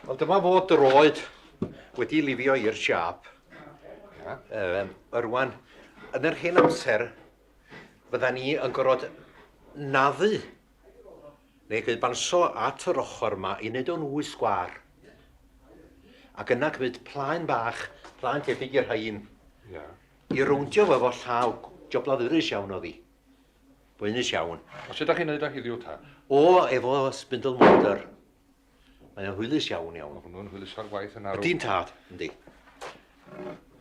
Wel, dyma fo droed wedi lifio i'r siap. Um, yrwan, yn yr hen amser, fydda ni yn gorfod naddu neu gyd banso at yr ochr yma i wneud o'n wy sgwar. Ac yna gwneud plaen bach, plaen tebyg i'r hain, yeah. i rowndio fo efo llaw, job lafurus iawn o ddi. Boenus iawn. A sut dach chi'n neud o heddiw ta? O, efo spindle mortar. Mae o'n hwylus iawn iawn. Mae hwnnw'n hwyluso'r gwaith yn arw. Ydy'n tad, yndi.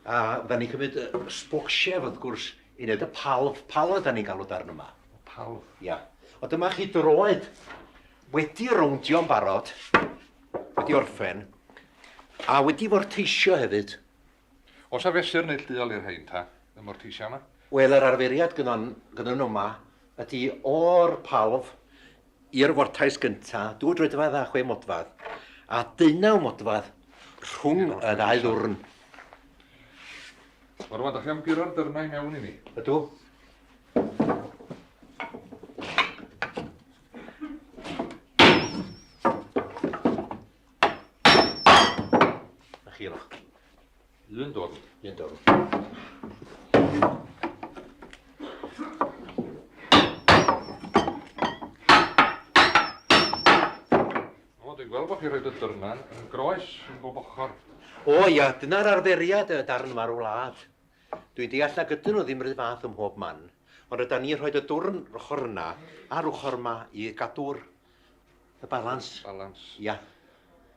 A da ni'n cymryd y sbocsief, wrth gwrs, i wneud y palf. Palf yda ni'n galw darn yma. Palf? Ia. O dyma chi droed wedi rowndio'n barod, wedi orffen, a wedi forteisio hefyd. Oes 'na fesur neillduol i'r rhein ta, y mortisia 'ma? Wel, yr arferiad gynnon, gynnon nhw 'ma ydi o'r palf i'r fortais gynta, dwy droedfadd a chwe modfadd, a deunaw modfadd rhwng y ddau ddwrn. Wel, rwan, 'dach chi am guro'r dyrnau i mewn i ni? Ydw. Na chi roch. Lun dorn. Lun dorn. O, dwi'n gweld bod chi roed y dyrnan yn groes yn bob ochr. O ia, dyna'r arferiad y darn farw wlad. Dwi'n deall na gydyn nhw ddim rhy fath ym mhob man, ond ryda ni rhoed y dwrn rochr yna a'r ochr yma i gadw'r Y balans. Y balans. Ia.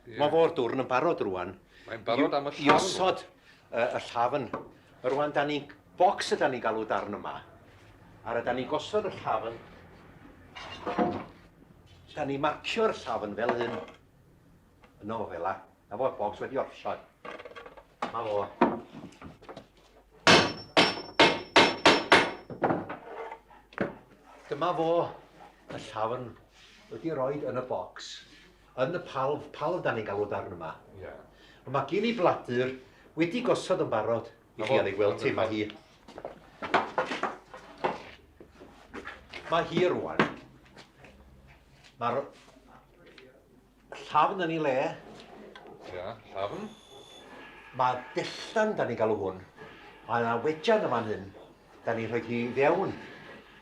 Yeah. Mae fo'r dwrn yn barod rwan. Mae'n barod am y llafn. I osod y, y llafn. Rwan, da ni'n bocs yda ni'n galw darn yma. Ar yda ni'n gosod y llafn. Da ni'n marcio'r llafn fel hyn. y nofel a, a fo'r bocs wedi orffen. Ma fo. Dyma fo y llafn wedi rhoi yn y bocs, yn y palf, palf dan ni'n galw darn yma. Yeah. Ond mae gen i bladur wedi gosod yn barod i chi ar ei gweld ti, mae hi. Mae hi rwan. Mae'r Llafn yn ei le. Ia, llafn. Mae dellan, da ni'n galw hwn. Mae yna wejan yn fan hyn. Da ni'n rhoi hi fewn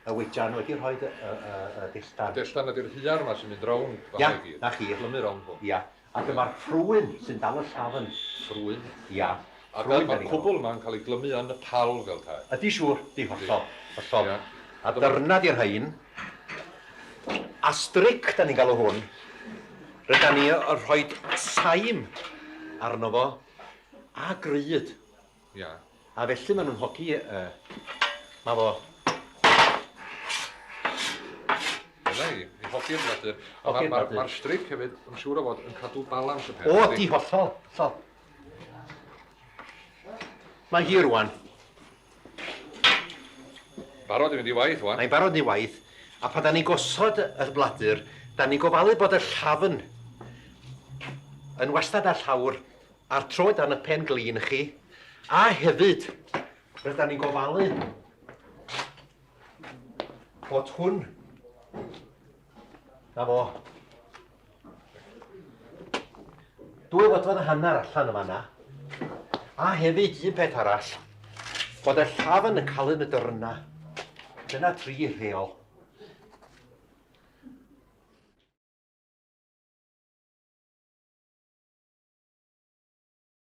y wejan wedi rhoi y, y, y, y dellan. Dellan ydy'r huar yma sy'n mynd rownd fan Ia, na chi. Plymu rownd hwn. Ia. A dyma'r ffrwyn sy'n dal y llafn. Ffrwyn? Ia. A fel mae'r cwbl yma yn cael ei glymu yn Nepal fel tae. Ydy, siŵr, 'di, hollol, hollol. A dyna 'di'r rhain. A stric, 'dan ni'n galw hwn. Rydan ni yn rhoi saim arno fo, a gryd. Ia. A felly maen nhw'n hogi, yy, 'ma fo. Dyna hi, i hogi'r bladur. Hogi'r bladur. Mae'r stric hefyd, yn siŵr o fod, yn cadw balans y peth. O, 'di, hollol, hollol. Mae hi rwan. Barod i fynd i waith wan. Mae'n barod ni waith, a pan da ni gosod y bladur, da ni gofalu bod y llafn yn wastad a llawr a'r troed dan y pen glin i chi, a hefyd rydyn ni'n gofalu bod hwn Na fo. Dwy fodfod a hanner allan yma na. A hefyd un peth arall, bod y llaf yn y calyn y dyrna. Dyna tri rheol.